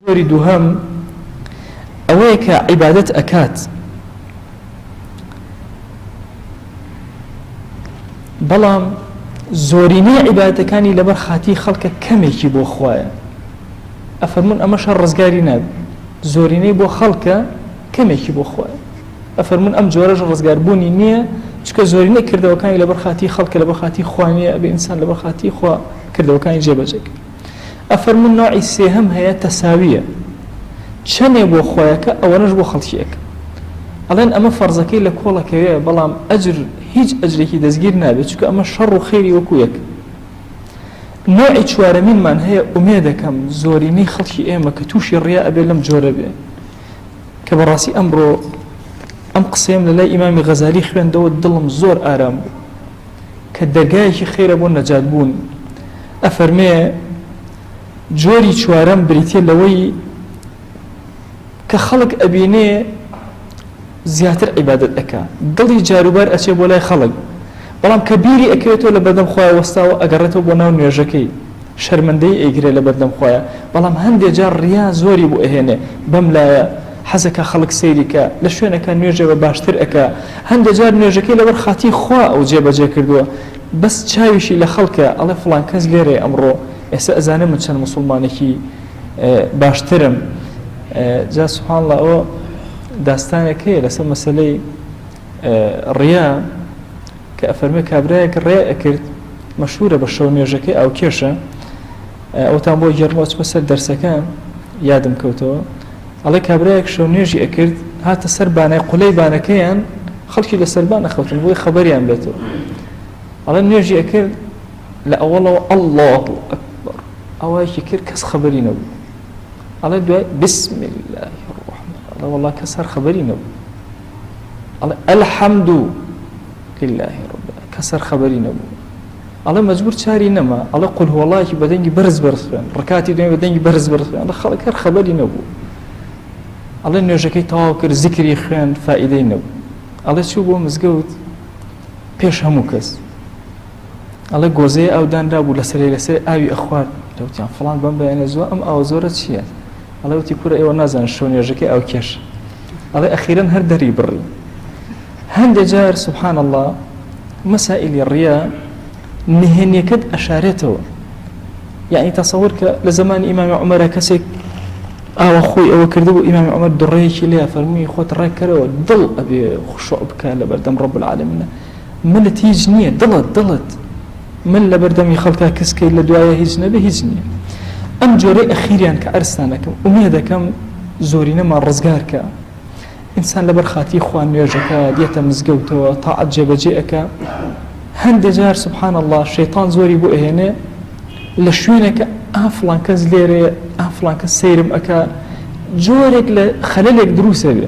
جۆری دووهەم ئەوەیە کە عیبادەت ئەکات بەڵام زۆرینەی عیبادەتەکانی لەبەر خاتی خەڵکە کەمێکی بۆ خوایە ئەفەرمون ئەمە شەر ڕزگاری ناب زۆرینەی بۆ خەڵکە کەمێکی بۆ خوایە ئەفەرمون ئەم جۆرەش ڕزگاربوونی نییە چکە زۆرینەی کردەوەکانی لەبەر خاتی خەڵکە لەبەر خاتی خوانیە بە ئینسان لەبەر خاتی خوا کردەوەکانی جێبەجێک ئەفەرموون نەوعی سێهەم هەیە تەساویە چەنێ بۆ خۆیەکە ئەوەنەش بۆ خەڵکی ئەکا ئەڵێن ئەمە فەرزەکەی لە کۆڵەکەوێ بەڵام ئەجر هیچ ئەجرێکی دەستگیر نابێت چکە ئەمە شەڕ و خێری وەکو یەک نوعی چوارەمینمان هەیە ئومێ دەکەم زۆرینەی خەڵکی ئێمە کە تووشی ڕیا ئەبێ لەم جۆرە بێ کە بەڕاستی ئەمڕۆ ئەم قسەیەم لە لای ئیمامی غەزالی خوێندەوە دڵم زۆر ئارام بوو کە دەرگایەکی خێرە بۆ نەجات بوون، ئەفەرمێ، جۆری چوارەم بریتیە لەوەی کە خەڵک ئەبینێ زیاتر عیبادت ئەکا دڵی جاروبار ئەچێ بۆ لای خەڵک بەڵام کە بیری ئەکرێتەوە لە بەردەم خۆیان وەستاوە ئەگەڕێتەوە بۆ ناو نوێژەکەی شەرمەندەی ئەیگرێ لەبەردەم خۆیا بەڵام هەندێ جار ریا زۆری بۆ ئەهێنێ بەم لایە حەزەکا خەڵک سەیری کا لە شوێنەکا نوێژێ بە باشتر ئەکا هەندێ جار نوێژەکەی لەبەر خاتری خوا ئەو جێ بەجێ کردوە بەس چاویشی لە خەڵکە ئەڵێ فڵان کەس لێرەیە ئەمڕۆ ئێسە ئەزانێ من چەند موسوڵمانێکی باشترم جا سبحان اللە ئەوە داستانێک هەیە لەسەر مەسەلەی ریا کە ئەفەرموێ کابرایەک ڕێ ئەکرد مەشهورە بە شەو نوێژەکەی ئاوکێشە ئەوتان بۆ گێڕمەوە چمە سەر دەرسەکان یادم کەوتەوە ئەڵێ کابرایەک شەو نوێژی ئەکرد هاتە سەر بانای قولەی بانەکەیان خەڵکی لە سەربان ئەخەوتن بۆی خەبەریان بێتەوە ئەڵێ نوێژی ئەکرد لە ئەوەڵەوە ئەله ئەکبەر ئەوەیەکی کرد کەس خەبەری نەبوو ئەڵێ دوای بسم الله الرحمن ئەڵێ وڵا کەس هەر خەبەری نەبوو ئەڵێ الحمد لله رب العالمین کە سەر خەبەری نەبوو ئەڵێ مەجبور چاری نەما ئەڵێ قل هو اللهی بە دەنگی بەرز بەرز خوێن ڕکاتی دوێن بە دەنگی بەرز بەرز خوێن خەڵک هەر خەبەری نەبوو ئەڵێ نوێژەکەی تەواو کرد زیکری خوێن فائیدەی نەبوو ئەڵێ چوو بۆ مزگەوت پێش هەموو کەس ئەڵێ گۆزەیە ئەودانرا بوو لەسەر لەسەر ئاوی ئەخوارد لەوتیان فلان بەم بەیانە زۆر ئەم ئاو زۆرە چییە ئەڵێ وتی کورە ئێوە نازانن شەو نوێژەکەی ئاوکێش ئەڵێ ئەخیرەن هەر دەری بڕی هەندێ جار سبحان الله مەسائلی ڕیا نهێنیەکەت ئەشارێتەوە یعنی تەسەور کە لە زمانی ئیمامی عمەرە کەسێک ئاوە خۆی ئەوە کرد بۆ ئیمامی عمەر دڕەیەکی لێ فەرمووی خۆت ڕێکەرەوە دڵ ئەبێ خوشۆ بکە لە بەردەم ڕب العالمینە ملت هیچ نییە دڵت دڵت مل لەبەردەمی خەڵکا کز کەی لە دوایە هیچ نەبێ هیچ نییە ئەم جۆرەی ئەخیریان کە ئەرستان دەکەم ئومێ دەکەم زۆرینەمان ڕزگار کە ئینسان لەبەر خاتی خوا نوێژەکە دێتە مزگەوتەوە تاعەت جێبەجێ ئەەکە هەندێ جار سبحان الله شەیتان زۆری بۆ ئەهێنێ لە شوێنەکە ئافلان کەس لێرێ ئافلان کە سەیرم ئەکە جۆرێک لە خەلەلێک دروسە بێ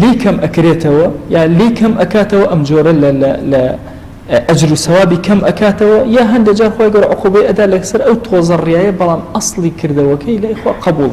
لێی کەم ئەکرێتەوە یا لێی کەم ئەکاتەوە ئەم جۆرە لە ئەجر و سەوابی کەم ئەکاتەوە یا هەندێک جار خۆی گەۆر عقوبەی ئەدا لەسەر ئەو تۆزەڕیایە بەڵام ئەسڵی کردەوەکەی لای خۆ قبوڵ